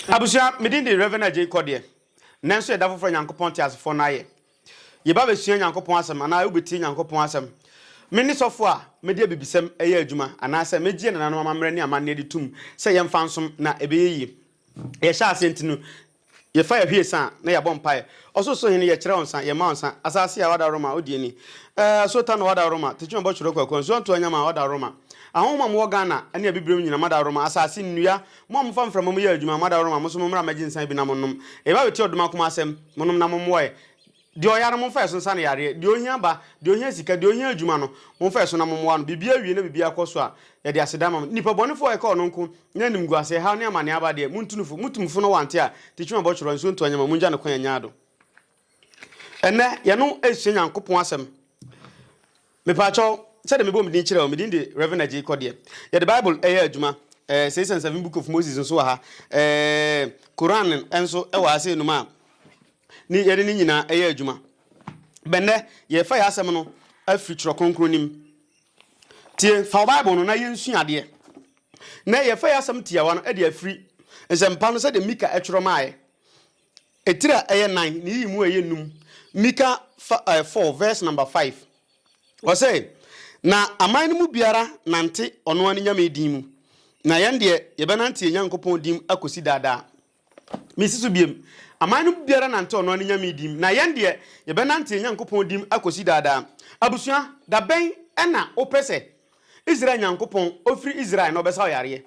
Abusua, me din de Rev. Agyei Kɔdeɛ. Nnɛ nso yɛ da foforɔ a Nyankopɔn teasefoɔ no ayɛ. Yɛba bɛsua Nyankopɔn asɛm anaa wobɛtie Nyankopɔn asɛm. Me ne sɔfoɔ a mede abibisɛm yɛ adwuma anaasɛ megyeɛ nananom amammerɛ ne amanneɛ de tom sɛ yɛmfa nsom na ɛbɛyɛ yie. Yɛhyɛ aseɛ nti no yɛfa yɛhwe yɛsa a na yɛabɔ mpaeɛ. Ɔsorosoro Hene yɛkyerɛ wo nsa, yɛma wo nsa, asaase a wada Roma wodi ani. Eh, asuo Tano wada Roma, Tekyima bɔ twerɛ kwakuo, nsuo Antoa Nyama wada Roma. Ahonhom a mowɔ Ghana ne Abibirem nyina mada Roma, asaase, nnua, Mo a mofa mframa mu yɛ adwuma, mo adaworoma, mo nso mommra mmɛgye nsã bi na monnom. Yɛba abɛtie ɔdom akumaa asɛm, monom na mommoa ɛ. Deɛ ɔyare no, momfa ɛso nsa no yareɛ. Deɛ ɔhia aba, deɛ ɔhia sika, deɛ ɔhia adwuma no, momfa ɛso na mommoa no. Biribiara wie na biribiara kɔ so a, yɛde aseda ama mo. Nnipa bɔnefoɔ a ɛka ɔno nko, na animguaseɛ, haw ne amaneɛ aba deɛ, montu no fo. Motu mo fo na wante a, tikyi ma bɔtworɔ, nsuo nto anyama, mongya no kwan, ɛnyɛ ado. Ɛnnɛ, yɛne wo resua Nyankopɔn asɛm. Mepaakyɛw, sɛdeɛ mebɔ me din kyerɛ wo, me din de Rev. Agyei Kɔdeɛ. Yɛde Bible ɛyɛ adwuma, eh, Six and Seven Book of Moses nso wɔ ha, eh, Koran nso wɔ ha sei nom a ne yɛde ne nyinaa ɛyɛ adwuma. Bɛnnɛ, yɛrefa yɛn asɛm no afiri Twerɛ Kronkron no mu. Tie, fa wo Bible no na yɛnsua adeɛ. Nnɛ, yɛrefa yɛn asɛm tiawa no de afiri Nsɛmpa no sɛdeɛ Mika twerɛ maeɛ. Etiri a ɛyɛ nan na yiyi mu a ɛyɛ num. Mika fa ɛɛ four verse number five. Ɔsɛ, Na aman no mu biara nante ɔno ara ne nyame din mu, na yɛn deɛ yɛbɛnante yɛn Nyankopɔn din mu akosi daa daa. Mesi so biom, aman no mu biara nante ɔno ara ne nyame din mu, na yɛn deɛ yɛbɛnante yɛn Nyankopɔn din mu akosi daa daa. Abusua, da bɛn na wopɛ sɛ Israel Nyankopɔn, ofiri Israel na ɔbɛsa wo yareɛ?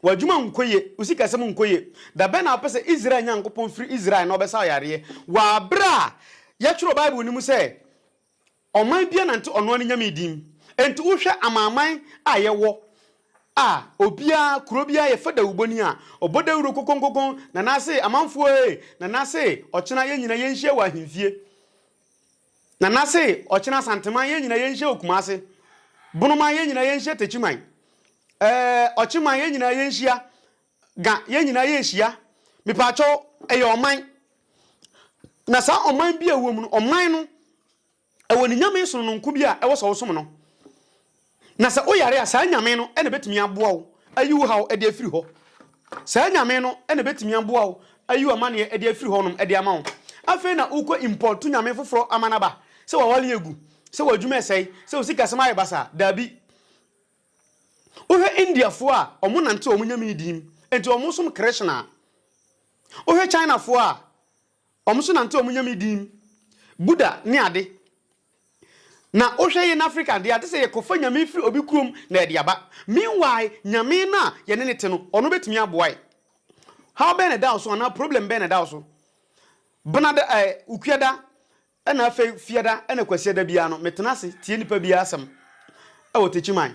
W'adwuma nkɔ yie, wo sikasɛm nkɔ yie. Da bɛn na wopɛ sɛ Israel Nyankopɔn firi Israel na ɔbɛsa wo yareɛ? Wɔ berɛ a yɛtwerɛ Bible no mu sɛ ɔman biara nante ɔno ara ne nyame din. Enti wohwɛ amanaman a yɛwɔ a, obiara, kuro biara yɛfa dawubɔni a, ɔbɔ dawuro kokonkokon, Nanaase, amanfoɔ ee, Nanaase, ɔkyena yɛn nyinaa yɛnhyia wɔ ahemfie. Nana se ɔkyena Asanteman yɛn nyina yɛnhyɛ wɔ Kumase, Bonoman yɛn nyina yɛnhyɛ Techiman, ɛɛ Ɔkyeman yɛn nyina yɛnhyia, Ga yɛn nyina yɛnhyia, mepaakyɛw ɛyɛ ɔman na saa ɔman bi a ɛwɔ mu no ɔman no ɛwɔ ne Nyame sonononko bi a ɛwɔ sɛ wo som no. Na sɛ woyare a, saa Nyame no na ɛbɛtumi aboa wo ayi wo haw de afiri hɔ. Saa Nyame no na ɛbɛtumi aboa wo ayi wo amaneɛ de afiri hɔnom de ama wo. Afei na wokɔ import nyame foforɔ aman aba, sɛ w'awareɛ agu, sɛ w'adwuma ɛsɛe, sɛ wo sikasɛm ayɛ basaa. Daabi. Wohwɛ Indiafoɔ a, wɔn nante wɔn nyame di mu, enti wɔn som Krishna. Wohwɛ Chinafoɔ a, wɔn nso nante wɔn nyame di mu, Buddha ne ade. Na wohwɛ yɛn Africa deɛ a, te sɛ yɛkɔfa nyame firi obi kurom na yɛde aba. Meanwhile, nyame no a yɛne no te no, ɔno bɛtumi aboa yɛn. Haw bɛn na ɛda wo so anaa problem bɛn na ɛda wo so? Benada, ɛɛ, Okuada, ɛna afei Fiada, ɛna Kwasiada biara no, metena ase tie nnipa biara asɛm ɛwɔ Tekyiman.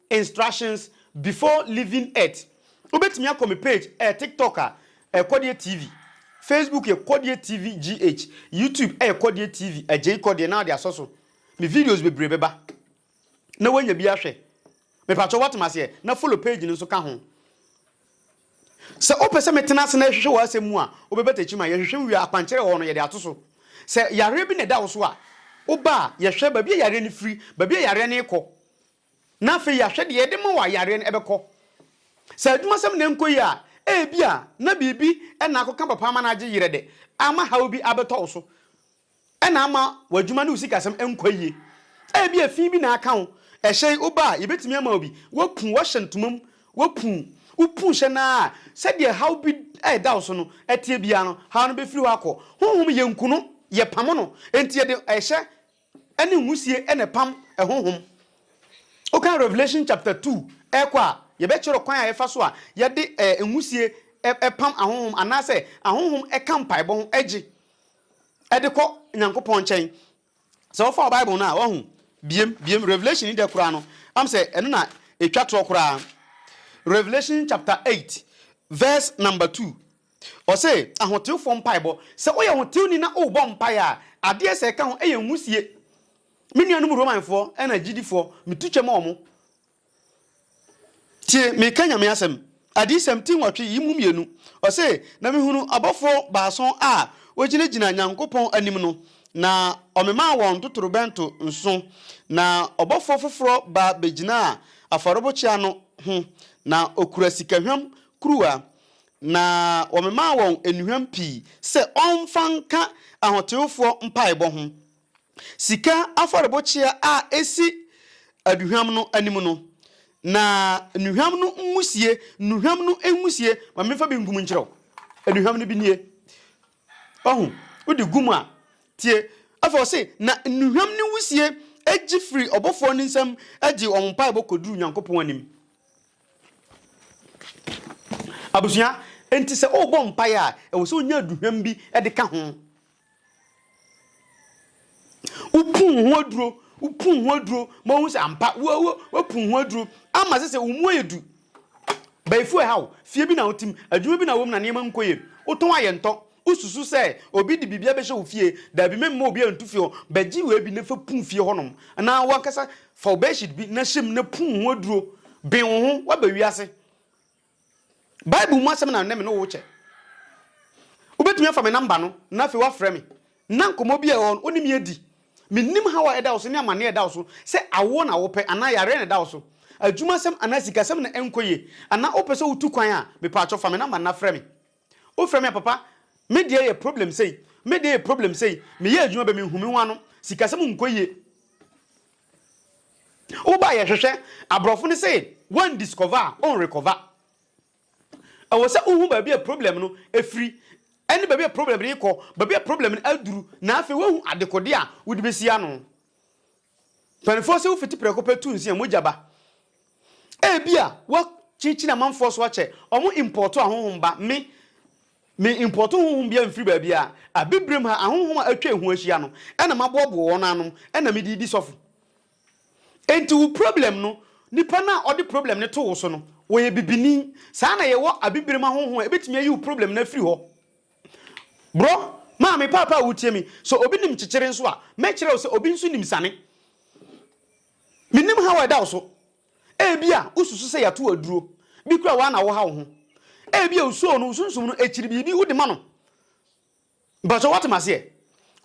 Instructions before leaving earth Wobɛtumi akɔ me page ɛyɛ tiktok a ɛyɛ kɔdeɛ TV Facebook yɛ kɔdeɛ TV GH YouTube ɛyɛ kɔdeɛ TV Agyei kɔdeɛ na wode asɔ so Me videos bebree bɛba na woanya bi ahwɛ Mepakyɛw woate m'aseɛ na follow page no nso ka ho Sɛ wopɛ sɛ metena ase na yɛhwehwɛ w'asɛm mu a wobɛba takyi ma yɛhwehwɛ wo wie a akwankyerɛ wɔ hɔ no yɛde ato so Sɛ yareɛ bi na ɛda wo so a woba a yɛhwɛ baabi a yareɛ no firi baabi a yareɛ no rekɔ na afei yɛahwɛ deɛ ɛde ma wɔ a yareɛ no bɛkɔ. Sɛ adwumasɛm na ɛnkɔ yie a, ebia na biribi na akɔka papa ama no agye yerɛ dɛ, ama haw bi abɛtɔ wo so na ama w'adwuma ne wo sikasɛm nkɔ yie. Ebia fi bi na aka wo, ɛhyɛ yi woba a yɛbɛtumi ama wo bi, woapu, woahyɛ ntoma mu, woapu, wopu hyɛ no ara a, sɛdeɛ haw bi a ɛda wo so no teɛ biara no, haw no bɛfiri hɔ akɔ. Honhom yɛnku no, yɛpamo no, enti yɛde ɛhyɛ Ɛne nwusie na ɛpam ɛhonhom. Wokan Revelation chapter two ɛɛkɔ a, yɛbɛkyerɛ ɔkwan a yɛfa so a yɛde nwusie ɛpam ahonhom anaasɛ ahonhom ɛka mpaebɔ ho ɛgye ɛde kɔ Nyankopɔn nkyɛn. Sɛ wofa wo Bible no a, wahu? Biem, biem, Revelation yi dɛ koraa no, am sɛ ɛno na ɛtwa toɔ koraa. Revelation chapter eight verse number two, Ɔse, Ahotewfoɔ mpaebɔ, Sɛ woyɛ hotewni na wobɔ mpaeɛ a, adeɛ sɛ ɛka ho yɛ nhusie. Me nuanom Romanfoɔ na agyidifoɔ, metu kyɛ ma wɔn. Tie, mereka Nyame asɛm. Adiyisɛm ti nwɔtwe yi mu mmienu, ɔse, Na mehunu abɔfoɔ baason a wɔgyinagyina Nyankopɔn anim no, na ɔmemaa wɔn ntotorobɛnto nson, na ɔbɔfoɔ foforɔ ba bɛgyinaa afɔrebokyea no ho, na ɔkura sikahwam kuruwa, Na wɔmemaa wɔn nnuhwam pii sɛ wɔmfa nka ahoteefoɔ mpaebɔ ho. Sika afɔrebokyea a ɛsi aduhwam no anim no, na nnuhwam no nwisie, nnuhwam no nwisie, ma memfa bi nkum nkyerɛ wo. Nnuhwam no bi nie. Wahu? Wode gu mu a, tie. Afei ɔse, na nnuhwam no nwisie gye firi ɔbɔfoɔ no nsam gye wɔn mpaebɔ kɔduru Nyankopɔn anim. Abusua, enti sɛ worebɔ mpae a, ɛwɔ sɛ wunya aduhwam bi de ka ho. Wopon ho aduro, wopon ho aduro ma wohu sɛ ampa woapon ho aduro ama sɛ sɛ wo mu ayɛ du. Bayifu ɛhaw, fie bi na wotim, adwuma bi na wom na nneɛma nkɔ yie, wotɔn a yɛntɔ, Wosusu sɛ obi de biribi abɛhyɛ wo fie. Dabi, memma obiara ntu fie hɔ. Bɛgye wei bi na fa pum fie hɔnom. Anaa w'ankasa fa wo bedsheet bi na hyɛ mu na pum ho aduro. Ben wo ho, woaba wiase. Bible mu asɛm na nnɛ me ne wo rekyɛ. Wobɛtumi afa me namba no na afei woafrɛ me na nkɔmmɔ bi a ɛwɔ hɔ no wo ne me adi. Mennim haw a ɛda wo so ne amanneɛ a ɛda wo so, sɛ awoɔ na wopɛ anaa yareɛ na ɛda wo so, adwuma asɛm anaa sikasɛm na ɛnkɔ yie, anaa wopɛ sɛ wotu kwan a, mepaakyɛw fa me namba no na frɛ me. Wo frɛ me a papa me deɛ yɛ problem sei me deɛ yɛ problem sei me yɛ adwuma bɛ me nhu me ho ano sikasɛm nkɔ yie wo ba yɛ hwehwɛ aborɔfo no sɛ wɔn discover a wɔn recover ɛwɔ sɛ wohu baabi a problem no ɛfiri ɛne baabi a problem no rekɔ baabi a problem no aduru na afei woahu adekode a wode bɛsi ano Mpanimfoɔ sɛ wofiti prɛko pɛ tu nsi a, mogya ba. Ebia wɔakyinkyini amanfoɔ so akyɛ, wɔimpɔɔto ahonhom ba. Me, meimpɔɔto honhom biara mfiri baabiara. Abibirem ha, ahonhom a atwa ehu ahyia no na maboaboa wɔn ano na mede redi sɔfo. Enti wo problem no, nipa no a ɔde problem no to wo so no, ɔyɛ bibini. Saa na yɛwɔ abibirem ahonhom a ebetumi ayi wo problem no afiri hɔ. Bro, maa me paapa a wotie me. Sɛ obi nim kyekyere nso a, mɛkyerɛ wo sɛ obi nso nim sane. Mennim haw a ɛda wo so. Ebia wosusu sɛ yɛato wo aduro. Bi koraa wo ara na wohaw wo ho. Ebia osuoo no, wo sunsum no akyiri biribi wode ma no. Mpakyɛw woate m'aseɛ?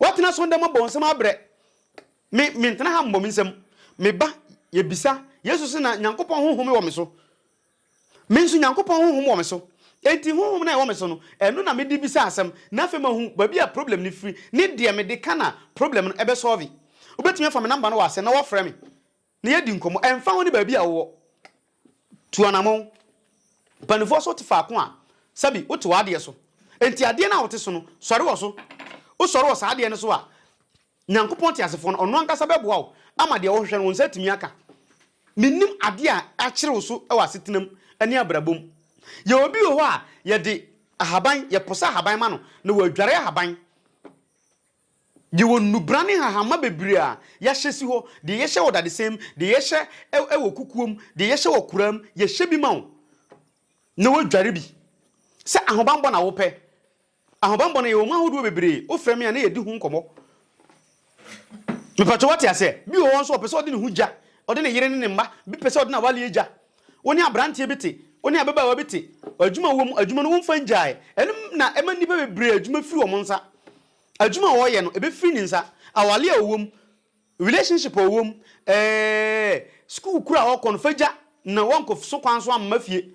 Woatena so ndɛ mabɔ wo nsɛm abrɛ. Me, mentena ha mmɔ me nsam. Meba, yɛbisa, Yesu se na Nyankopɔn Honhom wɔ me so. Me nso, Nyankopɔn honhom wɔ me so. Enti honhom no a ɛwɔ me so no, ɛno na mede bisa asɛm, na afei mahu baabi a problem no firi ne deɛ mede ka na problem no bɛ solve. Wobɛtumi afa me number no wɔ ase na woafrɛ me na yɛadi nkɔmmɔ. Ɛmfa ho ne baabi a wowɔ, tu anammɔn. Mpanimfoɔ sɛ wote faako a, sɛbi wote w'adeɛ so. Enti adeɛ no a wote so no, sɔre wɔ so. Wosɔre wɔ saa adeɛ no so a, Nyankopɔn teasefoɔ no, ɔno ankasa bɛboa wo ama deɛ wohwehwɛ no wo nsa atumi aka. Minnim ade a akyere wo so wɔ asetenam ne abrabɔ mu. Yɛwɔ obi wɔ hɔ a yɛde ahaban, yɛposa ahaban ma no na wadware ahaban. Yɛwɔ nnubra ne nhahamma bebree a yɛahyɛ si hɔ, deɛ yɛhyɛ wɔ dadesɛn mu, deɛ yɛhyɛ wɔ kukuo mu, deɛ yɛhyɛ wɔ koraa mu, yɛhyɛ bi ma wo na wadware bi. Sɛ ahobanbɔ na wopɛ, Ahobammɔ no yɛwɔ mu ahodoɔ bebree, wo frɛ me a na yɛdi ho nkɔmmɔ. Mepatwɔ wate aseɛ? Bi wɔ hɔ nso ɔpɛ sɛ ɔde ne ho gya, ɔde ne yere ne ne mma, bi pɛ sɛ ɔde n'awaleɛ gya. Wo ne abranteɛ bi te, wo ne ababaawa bi te, adwuma wɔ mu, adwuma no womfa ngyae. Ɛno na ɛma nnipa bebree adwuma firi wɔn nsa. Adwuma a ɔreyɛ no, ɛbɛfiri ne nsa. Awaleɛ a ɔwɔ mu, relationship a ɔwɔ mu, ɛɛ, sukuu koro a ɔrekɔ no, fa gya na woankɔ so kwan so amma fie.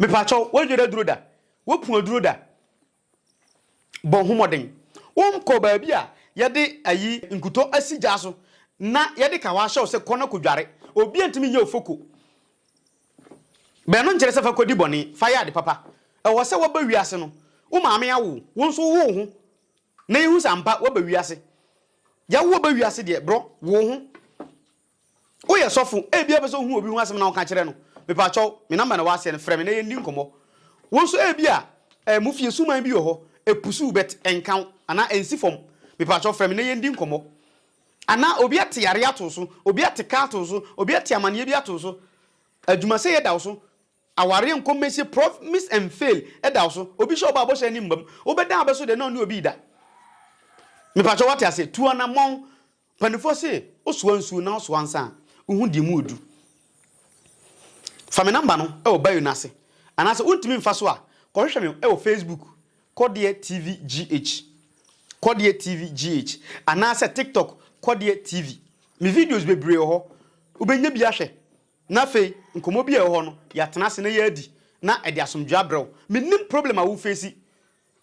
Mepakyɛw, woadwera aduro da? Woapu aduro da? Bɔ ho mmɔden. Wonkɔ baabi a yɛde ayi nkutɔ asi gya so na yɛde kawa ahyɛ wo sɛ kɔ na kodware. Obi antumi nyɛ wo foko. Bɛn no nkyerɛ sɛ fa kɔdi bɔne, fa yɛ ade papa. Ɛwɔ sɛ woaba wiase no, wo maame awo wo, wo nso wowo wo ho na yɛhu sɛ ampa woaba wiase. Yɛawo wo ba wiase deɛ, brɔ, wo wo ho. Woyɛ sɔfo, ebia wopɛ sɛ wuhu obi ho asɛm na woka kyerɛ no. Mepakyɛw, me nɔmba na ɛwɔ ase no, frɛ me na yɛndi nkɔmmɔ. Wo nso ebia eh, mo fie suman bi wɔ hɔ, epusuw but ɛnka wo, anaa ensi fam. Mepakyɛw, frɛ me na yɛndi nkɔmmɔ. Anaa obi ate yare ato wo so, obi ate ka ato wo so, obi ate amanneɛ bi ato wo so, adwumasɛyɛ da wo so, awareɛ nkɔ mmɛsie, promise and fail da wo so, obi hyɛ wo bɔ a bɔhyɛ ani mmam, wobɛdan abɛso deɛ na ɔne obi reda. Mepakyɛw, woate aseɛ? Tu anammɔn, Mpaninfoɔ se wo soa nsuo na wo soa nsa a, wo hu deɛ mu ɔdu. Fa me number no wɔ bio no ase. Anaa sɛ wo ntumi mfa so a, kɔ hwehwɛ me wɔ Facebook, Kɔdeɛ TV GH, Kɔdeɛ TV GH, anaa sɛ TikTok, Kɔdeɛ TV. Me videos bebree wɔ hɔ, wo bɛnya bi ahwɛ. Na afei, nkɔmmɔ bi a ɛwɔ hɔ no, yɛatena ase na yɛadi, na ɛde asomdwoeɛ abrɛ wo. Mennim problem a wo face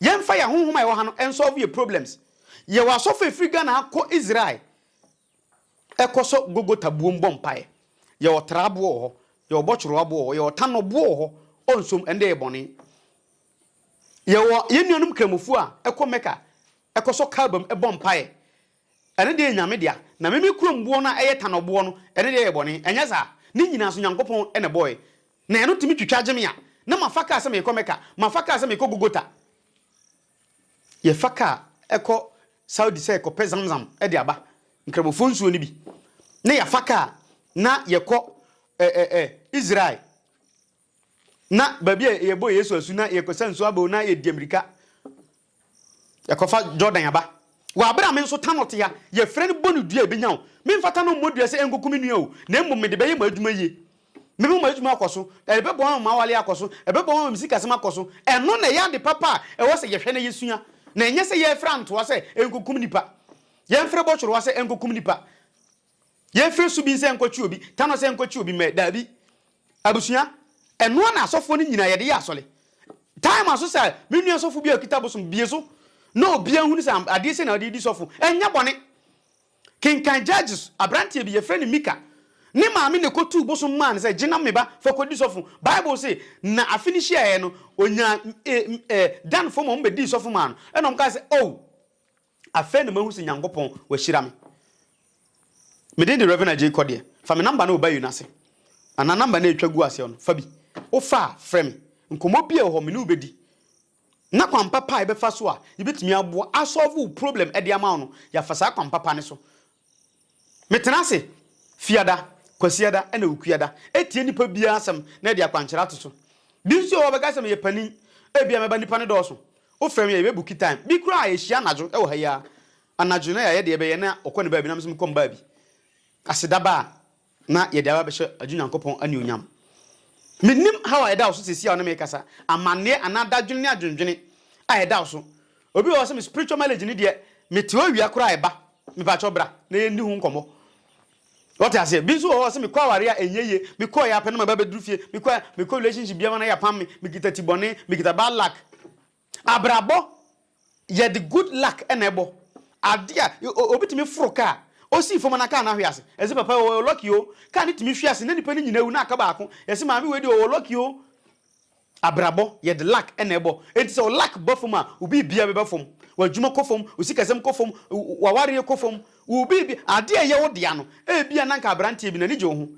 Yɛnfa yɛn ahohom a yɛwɔ ha no nsolve yɛn problems. Yɛwɔ asɔfo a ɛfiri Ghana ha kɔ Israel kɔ sɔ Golgotha buom bɔ mpaeɛ. Yɛwɔ tra aboɔ wɔ hɔ, yɛwɔ bɔtworo aboɔ wɔ hɔ, yɛwɔ tanno boɔ wɔ hɔ, ɔnsom, ɛnde ɛyɛ bɔne. Yɛwɔ yɛn nuanom Kramofoɔ a ɛkɔ Mecca kɔ sɔ Kaaba mu bɔ mpaeɛ. Ɛno deɛ yɛ Nyame dea, na me me kurom boɔ no a ɛyɛ tanɔ boɔ no, ɛno deɛ yɛ bɔne, ɛnyɛ saa? Ne nyinaa nso Nyankopɔn na ɛbɔɔɛ. Na ɛno tumi twitwa gye me a, na mafa kaa sɛ meekɔ Mecca, mafa kaa sɛ meekɔ Gogota, yɛfa kaa ɛkɔ Saudi sɛ ɛkɔpɛ Zamzam de aba, Nkramofoɔ nsuo no bi, na yɛafa kaa na yɛkɔ ɛ ɛ ɛ Israel. Na baabi a yɛbɔ Yesu asu na yɛkɔsa nsu abɛw na yɛde mmirika yɛkɔfa Jordan aba. Wɔ abere a me nso Tanor te ha, yɛfrɛ no bɔ no dua a ebenya wo. Memfa Tanor mmɔ dua sɛ ɛnkɔku me nua o, na mmom mede bɛyɛ m'adwuma yie. Mɛma m'adwuma akɔ so, ɛbɛboa ma m'awale akɔ so, ɛbɛboa ma me sikasɛm akɔ so. Ɛno na ɛyɛ ade papa a ɛwɔ sɛ yɛhwɛ na yɛsua, na ɛnyɛ sɛ yɛrefrɛ antoa sɛ ɛnkɔkum nnipa. Yɛmfrɛ bɔtworowa sɛ ɛnkɔkum nnipa. Yɛmfiri so bi nsɛ nkɔtwe obi, tano sɛ nkɔtwe obi mmɛ, daabi. Abusua, ɛnoa na asɔfoɔ no nyina yɛde yɛ asɔre. Time aso sɛ me nua sɔfo bi a ɔkita bosom bie so na obia hunu sɛ adeɛ sei na ɔde redi sɔfo, ɛnyɛ bɔne. Kenkan Judges, abranteɛ bi, yɛfrɛ no Mika. Ne maame na ɛkɔtuu bosom maa no sɛ gye na me ba, fa kɔdi sɔfo. Bible se, na afe no hyiaeɛ no, ɔnyaa, eh, eh, Danfoɔ ma wɔbɛdii sɔfo maa no. Ɛna wɔkaa sɛ, Oh! Afei na mahu se Nyankopɔn wahyira me. Me din de Rev Agyei Kɔdeɛ. Fa me number no wɔ bio no ase. Anaa number no a ɛtwa gu aseɛ no, fa bi. Wofa a, frɛ me. Nkɔmmɔ biara wɔ hɔ, me ne wo bɛdi. Na kwan papa a yɛbɛfa so a yɛbɛtumi aboa, a solve wo problem de ama wo no, yɛafa saa kwan papa no so. Metena ase Fiada, Kwasiada na Awukuada tie nnipa biara asɛm na de akwankyerɛ ato so. Bi nso wɔ hɔ a ɔbɛka sɛ meyɛ panin, ebia mɛba nnipa no dɔɔso, wofrɛ me a yɛbɛbuki time. Bi koraa a yɛhyia anadwo wɔ ha yi ara anadwo na yɛayɛ deɛ yɛbɛyɛ na ɔkɔ ne baabi na me nso mekɔ me baabi. Aseda ba a, na yɛde aba abɛhyɛ agye Onyankopɔn anuonyam. Mennim haw a ɛda wo so seesei a wo ne me rekasa, amanneɛ anaa dadwene ne adwendwene a ɛda wo so. Obi wɔ hɔ sɛ me spiritual marriage no deɛ mete owia koraa a ɛba, mepakyɛw bra na yɛnni ho nkɔmmɔ. Wote aseɛ? Bi nso wɔ hɔ sɛ mekɔ awareɛ a ɛnyɛ yie, mekɔeɛ ara pɛ na maba abɛduru fie, mekɔ mekɔ relationship bi ama no ayɛ apam me, mekita ti bɔne, mekita bad luck. Abrabɔ yɛde good luck na ɛbɔ. Ade a obi tumi foro kaa, osii fam na kaa no ahwe ase. Yɛse papa yi ɔwɔ lucky o, kaa no tumi hwe ase na nipa no nyina awu na aka baako. Yɛse maame wei deɛ ɔwɔ lucky o. Abrabɔ yɛde luck na ɛbɔ. Enti sɛ wo luck ba fam a, wo biribia bɛba fam. W'adwuma kɔ fam, wo sikasɛm kɔ fam, w'awareɛ kɔ fam, wo biribia, ade a ɛyɛ wo dea no, ebia na nka abranteɛ bi n'ani gye wo ho.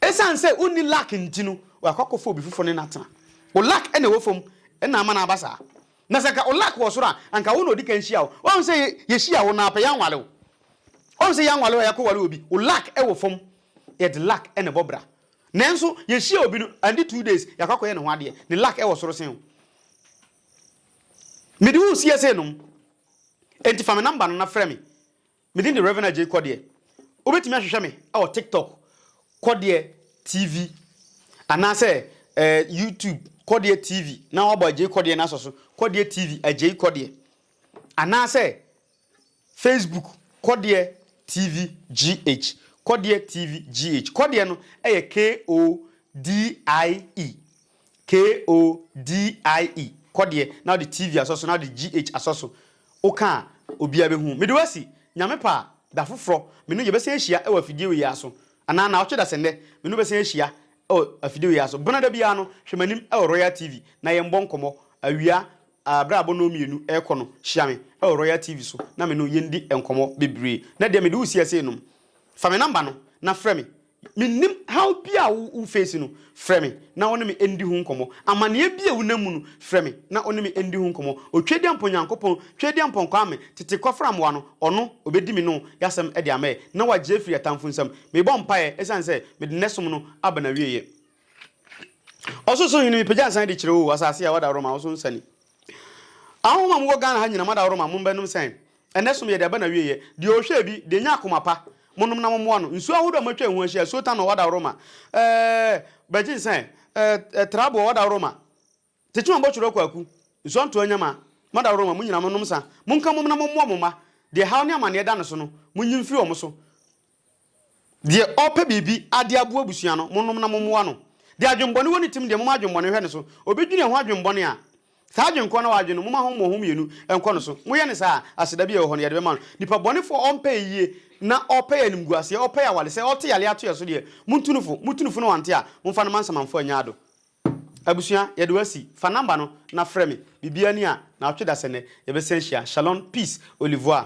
Esiane sɛ wonni luck nti no, wakɔ akɔfa obi foforo ne no atena. Wo luck na ɛwɔ fam na ama no aba saa. Na sɛ anka wo luck wɔ soro a, anka wo na odi kan hyia wo. Woahu sɛ yɛhyia wo na pɛ yɛanware wo. Woahu sɛ yɛanware wo a yɛakɔware obi. Wo luck wɔ fam. Yɛde luck na ɛbɔ bra. Nanso yɛhyia obi no, andi two days, yɛakɔ akɔyɛ ne ho adeɛ. Ne luck wɔ soro sen wo. Mede wo seesei nom. Enti fa me number no na frɛ me. Me din de Rev. Agyei Kɔdeɛ. Wobɛtumi ahwehwɛ me wɔ TikTok, Kɔdeɛ TV, anaasɛ YouTube, Kɔdeɛ TV, na woabɔ Agyei Kɔdeɛ no asɔ so, Kɔdeɛ TV, Agyei Kɔdeɛ, anaasɛ Facebook, Kɔdeɛ TV GH, Kɔdeɛ TV GH. Kɔdeɛ no yɛ K-O-D-I-E. KODIE, kɔ deɛ na wode TV asɔ so na wode GH asɔ so, woka a obiara bɛhu. Mede wo asi, Nyame pɛ a, da foforɔ, me ne wo yɛbɛsan ahyia wɔ afidie wei ara so. Anaa nnawɔtwe dasɛnnɛ, me ne wo bɛsan ahyia wɔ afidie wei ara so. Bena da biara no, hwɛ m'anim wɔ Royal TV na yɛmbɔ nkɔmmɔ. Awia a, berɛ a abɔnnɔ mmienu rekɔ no, hyia me wɔ Royal TV so na me ne wo yɛndi nkɔmmɔ bebree. Nnɛ deɛ mede wo si ase renom. Fa me namba no na frɛ me Mennim haw bi a wo face no, frɛ me na wo ne me ndi ho nkɔmmɔ. Amaneɛ bi a wo nam mu no, frɛ me na wo ne me ndi ho nkɔmmɔ. Otwedeampɔ Nyankopɔn, Twedeampɔ Nkwame, tete kɔfra mmoa no, ɔno, obedi me no yasɛm de ama ɛ na wagye afiri atamfo nsam. Mebɔ mpaeɛ ɛsiane sɛ mede nnɛ som no aba nawieɛ. Ɔsorosorhene mepagya nsa de kyerɛ oo, asase a w'adaworoma wo so nsa ni. Ahɔho a mowɔ Ghana ha nyina mada woroma mo mbɛnom sɛn? Ɛnɛ som yɛ deɛ ɛba na wieɛ. Deɛ ɔhwɛɛ bi, deɛ nya akoma pa, monom na mommoa no. Nsuo ahodoɔ a moatwa eho ahyia, Sultan ɔɔ wada woroma eh, Bɛgye nsɛn eh, eh, Trabo ɔɔ wada woroma, Tekyema Bɔtwerɔ Kwaku, Nsɔnto Anyama, mada woroma mo nyina monom sa. Monka mmom na mommoa mo mma, deɛ haw ne amaneɛ da no so no, monyi mfiri wɔn so. Deɛ ɔɔpɛ biribi ade aboa abusua no, monom na mommoa no. Deɛ adwenbɔne wɔ ne tim deɛ, momma adwenbɔne nhwɛ ne so. Ɔbɛdwene ɛho adwenbɔne a, saa adwene korɔ no a wadwene no, momma ho moho mmienu nkɔ ne so. Moyɛ no saa a, aseda bi a ɛwɔ hɔ no, yɛde bɛma no. Nipa bɔnefoɔ a ɔmpɛ ayie na ɔpɛ animguaseɛ, ɔpɛ awale, sɛ ɔte yareɛ ato yɛn so deɛ, montu no fo. Motu no fo na wante a, momfa no mma nsamanfoɔ nnya ado. Abusua, yɛde wo asi. Fa number no na frɛ me. Biribiara ni a, nawɔtwe dasɛ nnɛ, yɛbɛsan ahyia. Shalon, peace, au revoir.